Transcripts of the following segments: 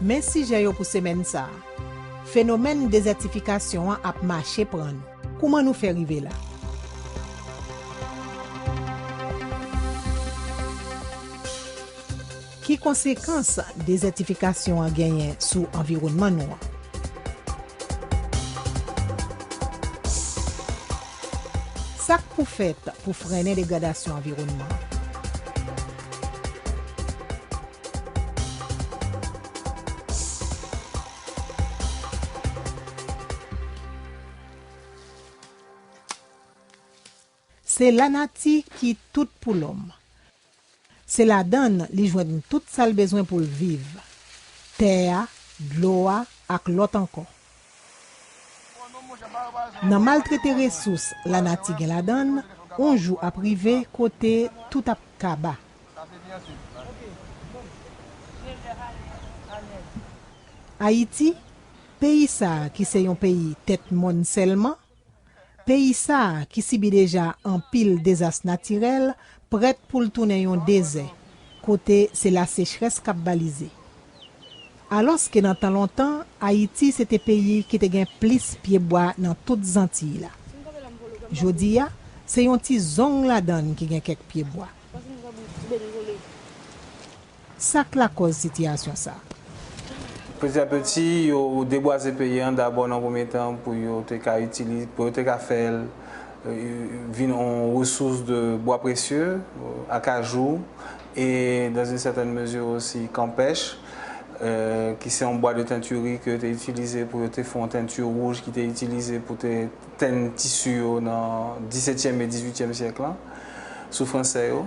Men sijè yo pou semèn sa a. Fenomèn dezètifikasyon an ap mache pran nou. Kouman nou fè rive la? Ki konsekans dezètifikasyon an genyen sou anviwònman nou an? Sa k pou fèt pou frennen degradasyon anviwònman an? Se lanati ki tout pou lòm. Se ladan l li jwenn tout sa l bezwen pou l viv, tè a, dlo a ak lòt ankò. Nan maltrete resous lanati gen ladan l, on jou ap rive kote tout ap kaba. Ayiti, peyi sa a ki se yon peyi tèt mòn sèlman, Peyi sa a, ki sibi deja anpil dezas natirèl, prèt pou l tounen yon dezè, kote se lasechrès k ap balize. Alòske nan tan lontan, Ayiti se te peyi ki te gen plis pyebwa nan tout Zantiy la. Jodi a, se yon ti zong ladan l ki gen kèk pyebwa. Sa k lakòz sitiyasyon sa a? Peti a peti, yo debwaze peyi an dabò nan premye tan pou yo te ka itilize, pou yo te ka fè l vin yon resous de bwa presye, akajou, e dans une certaine mesure aussi kanpèch, ki se yon bwa de teinturerie ke yo te itilize pou yo te fè yon teinture wouj ki te itilize pou te tenn tisi yo nan disetyèm e dizuityèm syèk lan sou Fransè yo.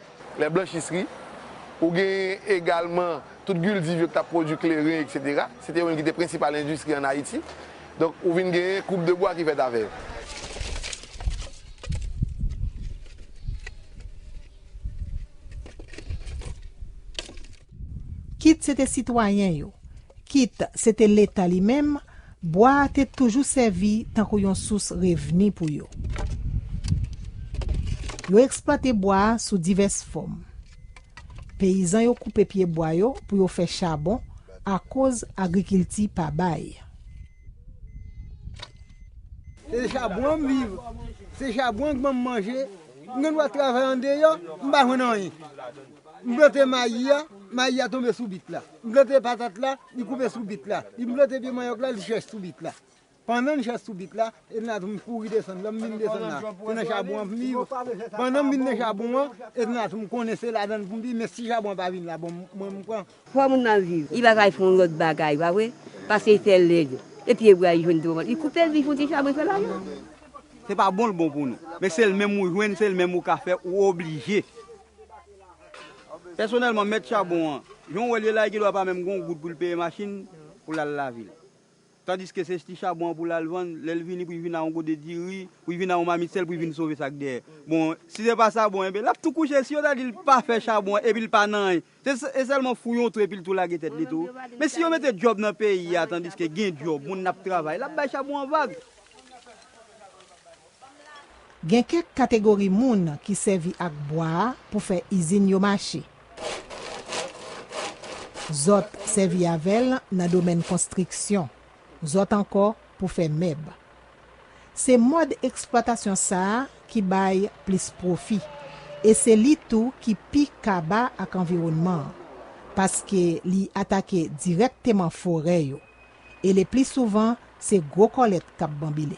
Les blanchisseries, ou gen egalman tout guldiv yo ki t ap pwodui kleren eksetera. Se te yo menm ki te prensipal endistri ann Ayiti. Donk, ou vin gen koup de bwa ki fèt avè yo. Kit se te sitwayen yo, kit se te Leta li menm, Bwa a te toujou sèvi tankou yon sous revni pou yo. Yo eksplwate bwa a sou divès fòm. Peyizan yo koupe pye bwa yo pou yo fè chabon akoz agrikilti pa bay. Se de chabon an m viv. Se chabon an k ban m manje. M gen dwa travay andeyò, m pa jwenn anyen. M plante mayi a, mayi a tonbe sou bit la. M plante patat la, li koupe sou bit la. M plante pye manyòk la, li chèch sou bit la. Pandan li chèch sou bit la, Edna Toum kouri desann. Lè m vin desann la, se nan chabon an pou m viv. Pandan m vin nan chabon an, Edna Toum konnen se ladan l pou m viv, men si chabon an pa vin la bon, mwen m pran. Fò moun nan viv. Li pa ka al fè yon lòt bagay, pa vre? Pase li fè lèd. E pye bra li jwenn twò mal. Li koupe l, li fon ti chabon, li fè lajan. Se pa bon l bon pou nou. Men se l menm ou jwenn, se l menm ou ka fè, ou oblije. Pèsonèlman, mèt chabon an, jan w wè l ye la, li gendwa pa menm gen yon goud pou l peye machin pou l al lavil. Tandiske se sti chabon an pou l al vann, lè l vini pou l vin a yon gode diri, pou l vin a yon mamit sèl pou l vin sove sa k dèyè. Bon, si se pa sa, bon, enben, l ap tou kouche. Si yo ta di l pa fè chabon an epi l pa nan anyen, se sèlman fou yon twou epi l tou lage tèt li tou. Men si yo mete djòb nan peyi a, tandiske gen djòb, moun ap travay, l ap bay chabon an vag. Gen kèk kategori moun ki sèvi ak bwa a pou fè izin yo mache. Zòt sèvi avè l nan domèn konstriksyon. Zòt ankò pou fè mèb. Se mòd eksplwatasyon sa a ki bay plis pwofi e se li tou ki pi kaba ak anviwònman an, paske li atake dirèkteman forè yo. e lepli souvan se gwo kòlèt k ap banbile.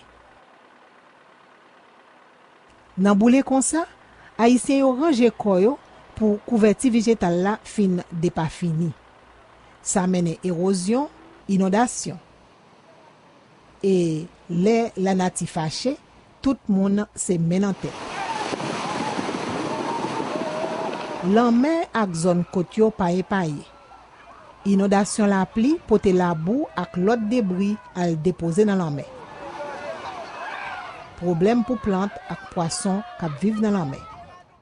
Nan boule konsa, Ayisyen yo ranje kò yo pou kouvèti vijetal la fin depafini. Sa mennen ewozyon, inondasyon. E lè lanati fache, Tout moun se men nan tèt. Lanmè ak zòn kot yo pa epaye. Inondasyon lapli pote labou ak lòt debri al depoze nan lanmè. Pwoblèm pou plant ak pwason k ap viv nan lanmè.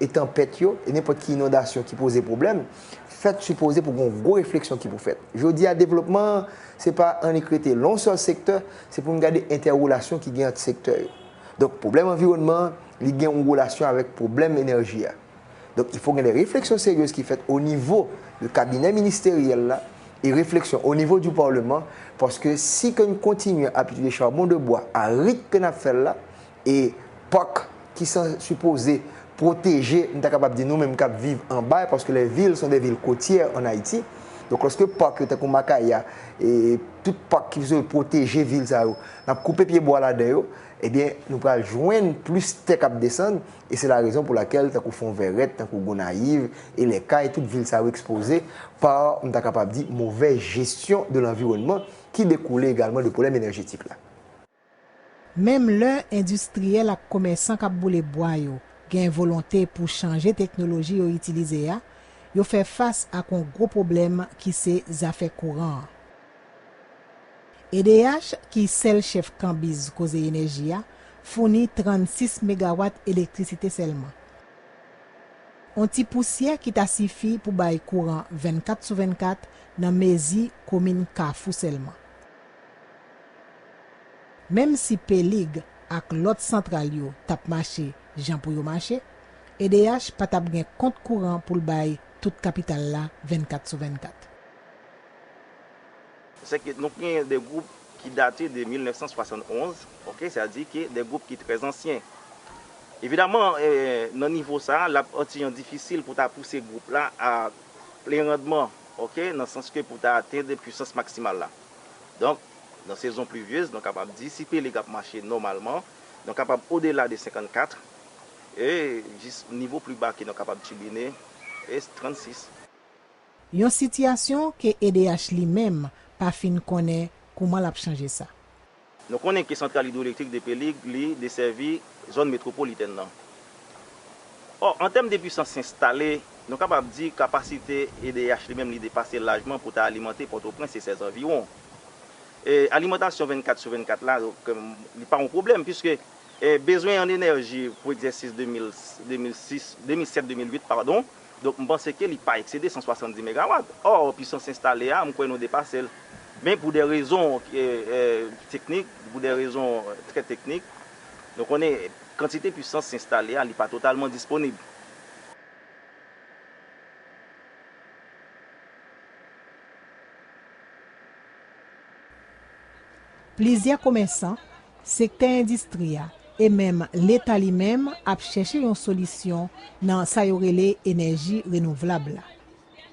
e tanpèt yo, e nenpòt ki inondasyon ki poze pwoblèm, fèt sipoze pou gon gwo refleksyon ki pou fèt. Jodi a devlopman an, se pa annik rete lon sèl sektè, se pou n gade entèrelasyon ki gen ant sektè yo. Donk pwoblèm anviwònman an, li gen yon relasyon avèk pwoblèm enèji a. Donk il fò gen de refleksyon seryez ki fèt o nivo de kabinè ministeryèl la, e refleksyon o nivo di parleman, paske si ke n kontinye ap itilize charbon de bois a rit ke n ap fè l la, E pak ki san sipoze pwoteje, m ta kapab di nou menm k ap viv anba l, paske les villes sont des villes côtières en Ayiti. Donk lòske pak yo tankou Makaya, e tout pak ki sipoze pwoteje vil sa yo, n ap koupe pye bwa ladan yo, ebyen nou pral jwenn plis tè k ap desann, e se larezon pou lakèl tankou Fonvèrèt, tankou Gonayiv, e Les Cayes, tout vil sa yo ekspoze pa, m ta kapab di, movèz jesyon de lanviwònman ki dekoule egalman de pwoblèm enèjetik la. Menm lè endistriyèl ak komèsan k ap boule bwa yo gen volonte pou chanje teknoloji yo itilize a, yo fè fas ak yon gwo pwoblèm ki se zafè kouran an. Ed'H, ki sèl chèf kanbiz koze enèji a, founi 36 megawat elektrisite sèlman. Yon ti pousyè ki ta sifi pou bay kouran 24 sou 24 nan mezi komin Kafou sèlman. Menm si P-League ak lòt santral yo t ap mache jan pou yo mache, edh pa t ap gen kont kouran pou l bay tout kapital la 24 sou 24. Sèke nou gen de gwoup ki date de 1971, ok, sa di ke de gwoup ki trè zansyen. Evidaman, nan nivo sa a, l ap antijan difisil pou ta pouse gwoup la a plen randman, ok, nan sans ke pou ta atenn pwisans maksimal la. Donk, nan sezon pluvieuses, nou kapab di si pelig ap mache nòmalman, nou kapab odela de 54, e jis nivo pli ba ke nou kapab tibine e 36. Yon sitiyasyon ke edh li menm pa fin konnen kouman l ap chanje sa. Nou konnen ke santral idwoelektrik Depelig li desèvi zòn metwopolitèn nan. Ò, an tèm de pwisans enstale, nou kapab di kapasite edh li menm li depase lajman pou ta alimante Pòtoprens e sèzanviwon. E alimantasyon 24 sou 24 la, li pa yon pwoblèm puiske bezwen an enèji pou egzèsis 2006, 2007, 2008 padon, Donk m panse ke li pa eksede 170 megawat. Or pwisans enstale a m kwè nou depase l. Men pou de rezon teknik, pou de rezon trè teknik, nou konnen kantite pwisans enstale a li pa totalman disponib. Plizyè komèsan, sektè endistri a, e menm Leta li menm ap chèche yon solisyon nan sa yo rele enèji renouvlab la.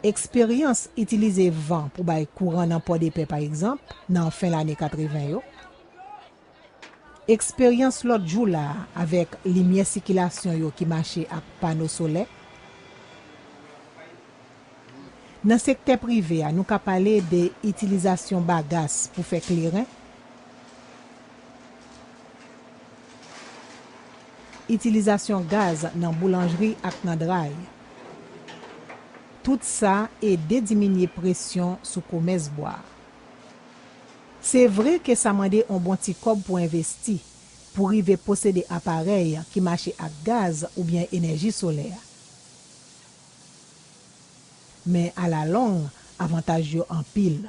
Eksperyans itilize van pou bay kouran nan Pòdepè pa egzanp, nan fen lane 80 yo, eksperyans lòt jou la a avèk limyè sikilasyon yo ki mache ak pano solè, Nan sektè prive a, nou ka pale de itilizasyon bagas pou fè kleren, itilizasyon gaz nan boulanjri ak nan dray. Tout sa ede diminye presyon sou komès bwa a. Se vre ke sa mande yon bon ti kòb pou envesti, pou rive posede aparèy ki mache ak gaz oubyen enèji solè. Men a la long, avantaj yo anpil.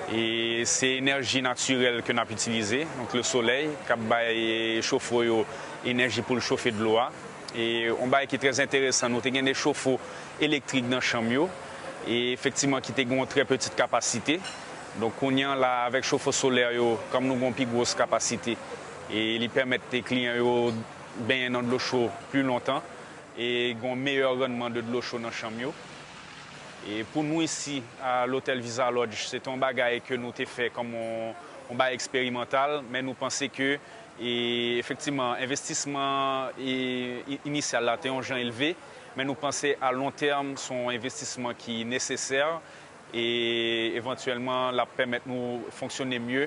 E se enèji natirèl ke n ap itilize, donk le solèy k ap bay chofo yo enèji pou l chofe dlo a. E yon bagay ki trè enteresan, nou te gen de chofo elektrik nan chanm yo, e efektiman ki te gen yon trè peti kapasite. Donk kounye an la avèk chofo solè yo, kòm nou gen yon pi gwos kapasite, E li pèmèt kliyan yo benyen nan dlo cho pli lontan e gen yon meyè rannman de dlo cho nan chanm yo. E pou nou isi a lotèl Visa Lodge, se te yon bagay ke nou te fè kòm yon bagay eksperimantal, men nou panse ke efektivman envestisman inisyal la te yon jan elve, men nou panse a lon tèm se yon envestisman ki nesesè e evantyèlman l ap pèmèt nou fonksyone mye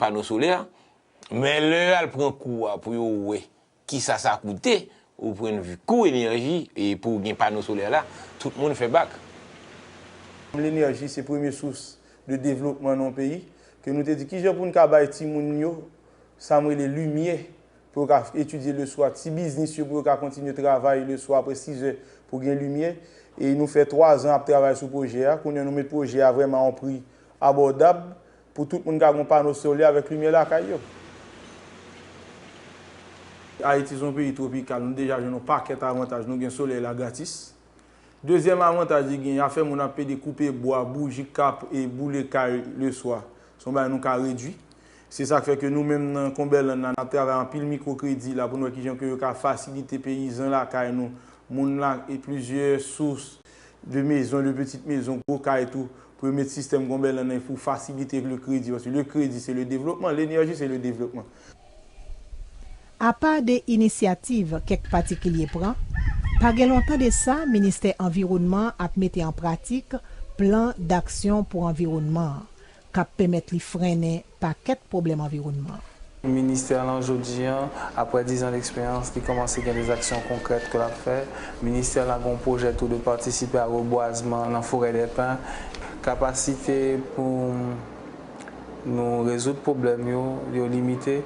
pano solè, men lè yo al pran kou a pou yo wè kisa sa koute o pwendvi kou enèji e pou w gen pano solè la, tout moun fè bak. Kòm lenèji se premye sous de devlopman nan yon peyi, ke nou te di kijan pou n ka bay timoun yo sa m rele limyè pou yo ka etidye leswa, ti biznis yo pou yo ka kontinye travay leswa apre sizè pou gen limyè. E nou fè twazan ap travay sou pwojè a. Kounye a nou met pwojè a vrèman a yon pri abòdab Pou tout moun ka gen yon pano solè avèk limyè lakay yo. Ayiti se yon peyi twopikal, nou deja jwenn yon pakèt avantaj, nou gen solèy la gratis. Dezyèm avantaj li genyen, afè moun ap pede koupe bwa, bouji kap e boule kay leswa, se yon bagay nou ka redui. Se sa k fè ke nou menm nan Konbèland la, n ap travay anpil mikwo kredi la pou nou wè ki jan ke yo ka fasilite peyizan lakay nou, moun la e plizyè sous. de mezon, de petite mezon, gwo kay tou, pou yo met sistèm gonbèlan nan pou fasilite le kredi, paske le kredi se le devlopman, l'enerji se le devlopman. Apa de inisyativ kèk patikilye pran, pa gen lontan de sa ministè anviwònman an ap mete an pratik plan daksyon pou anviwònman an, k ap pèmèt li frennen pakèt pwoblèm anviwònman. Ministè lan jodi an, aprè dizan d'eksperyans, li kòmanse gen des aksyon konkrèt ke l ap fè. Ministè la gen yon pwojè tou de patisipe a rebwazman lan forè dè pen. Kapasite pou nou rezoud pwoblèm yo, yo limite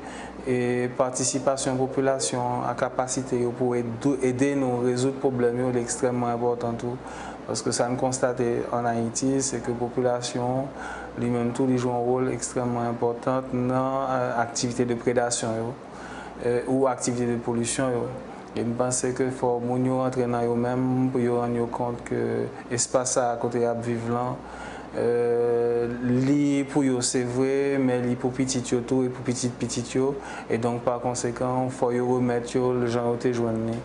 e patisipasyon popilasyon an a kapasite yo pou ede nou rezoud pwoblèm yo li ekstrèmman enpòtan tou. Paske sa n konstate an Ayiti, se ke popilasyon li menm tou li jwe yon wol ekstrèmman enpòtan nan aktivite de predasyon yo ou aktivite de polisyon yo. E m panse ke fò moun yo rantre nan yo menm pou yo rann yo kont ke espas sa a kote y ap viv lan, li pou yo se vre, men li pou pitit yo tou e pou pitit pitit yo. E donk pa konsekan fò yo remèt yo l jan yo te jwenn li.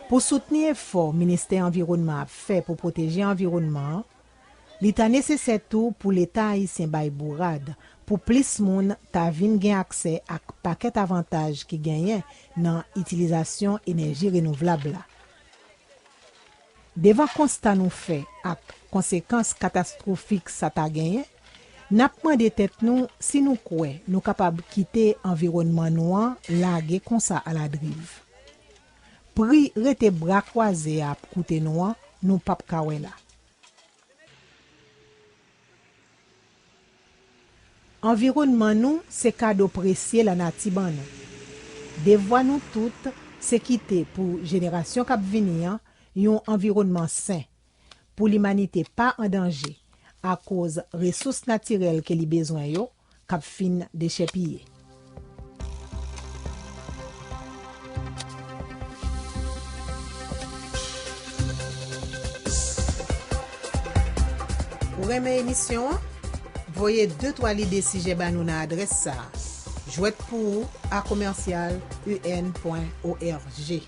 Pou soutni efò Ministè Anviwònman ap fè pou pwoteje anviwònman an, li ta nesesè tou pou Leta ayisyen bay bourad pou plis moun ta vin gen aksè ak pakèt avantaj ki genyen nan itilizasyon enèji renouvlab la. Devan konsta nou fè ak konsekans katastwofik sa ta genyen, n ap mande tèt nou si nou kwè nou kapab kite anviwònman nou an lage konsa aladriv. Pri rete bra kwaze a ap koute nou an, nou pap ka wè la. Anviwònman nou se kado presye lanati ban nou. Devwa nou tout se kite pou jenerasyon k ap vini an yon anviwònman sen, pou limanite pa an danje akoz resous natirèl ke li bezwen yo k ap fin dechèpiye. Ou renmen emisyon an? Voye de twa lide sijè ba nou nan adrès sa a, jwèt pou ou a commercial un pwen org.